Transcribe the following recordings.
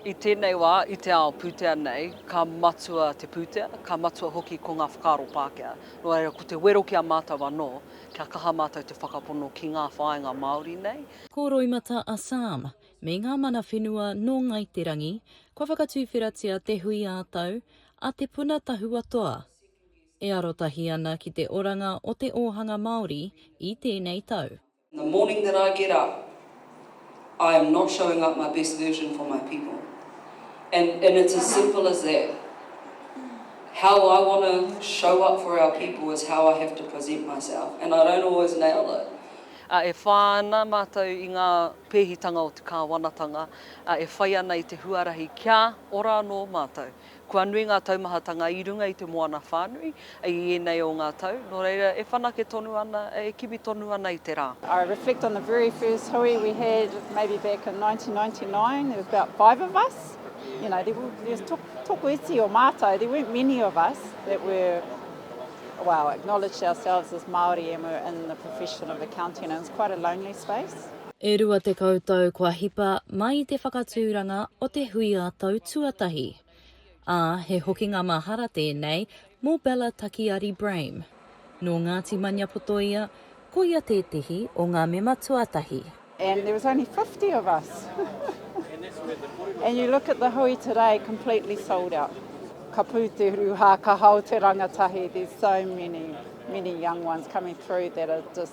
I tēnei wā, i te ao pūtea nei, ka matua te pūtea, ka matua hoki ko ngā whakaaro Pākehā. Nō reira, ko te wero ki a mātou anō, kia kaha mātou te whakapono ki ngā whāinga Māori nei. Ko Roimata a Sam me ngā mana whenua nō Ngāi Te Rangi, kua whakatuwheratia te hui ā-tau a Te Puna Tahua Toa, e arotahi ana ki te oranga o te ōhanga Māori i tēnei tau. The morning that I get up I am not showing up my best version for my people and and it's as simple as that. How I want to show up for our people is how I have to present myself and I don't always nail it. Ā, e whā ana mātou i ngā pēhitanga o te Kāwanatanga, ā, e whai ana i te huarahi kia ora anō mātou. Kua nui ngā taumahatanga i runga i te moana whānui i ēnei o ngā tau, nō reira e whanake tonu ana, e kimi tonu ana i te rā. I reflect on the very first hui we had maybe back in 1999, there was about five of us, you know, there was toku iti o mātou, there weren't many of us that were, well, acknowledged ourselves as Māori and were in the profession of accounting, it was quite a lonely space. E rua tekau tau kua hipa mai te whakatūranga o te hui ā-tau tuatahi, ā, he hokinga mahara tēnei mō Bella Takiari Brame. Nō Ngāti Maniapoto ia, ko ia tētehi o ngā mema tuatahi. And there was only fifty of us and you look at the hui today, completely sold out. Ka pū te rūhā, ka hao te rangatahi, there's so many, many young ones coming through that are just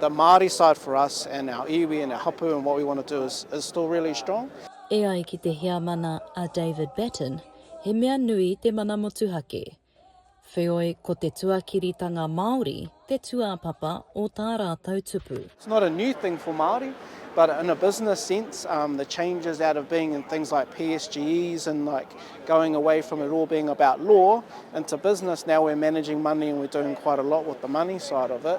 The Māori side for us and our iwi and our hapu and what we want to do is is still really strong. E ai ki te Heamana a David Batten, he mea nui te mana motuhake. Wheoi, ko te tuakiritanga Māori te tūāpapa o tā rātou tupu. It's not a new thing for Māori, but in a business sense, um, the changes out of being in things like PSGEs and like going away from it all being about law into business, now we're managing money and we're doing quite a lot with the money side of it.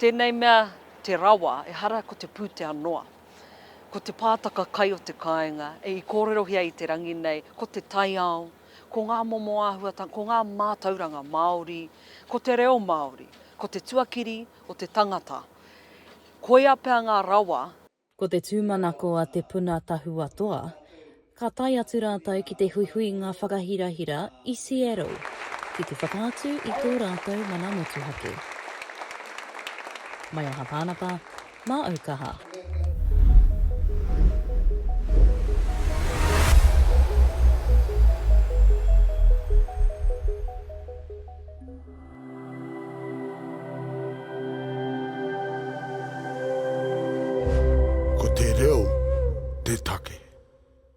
Tēnei mea te rawa, ehara ko te pūtea noa. Ko te pātaka kai o te kāinga, i kōrerohia i te rangi nei, ko te taiao, ko ngā momo āhuatanga, ko ngā mātauranga Māori, ko te reo Māori, ko te tuakiri o te tangata. Koia pea ngā rawa. Ko te tūmanako a Te Puna Tahua Toa, ka tae atu rātou ki te huihuinga whakahirahira i Seattle, ki te whakaatu i tō rātou mana motuhake. Mai aha tānaka, mā au kaha. Ko te reo te take.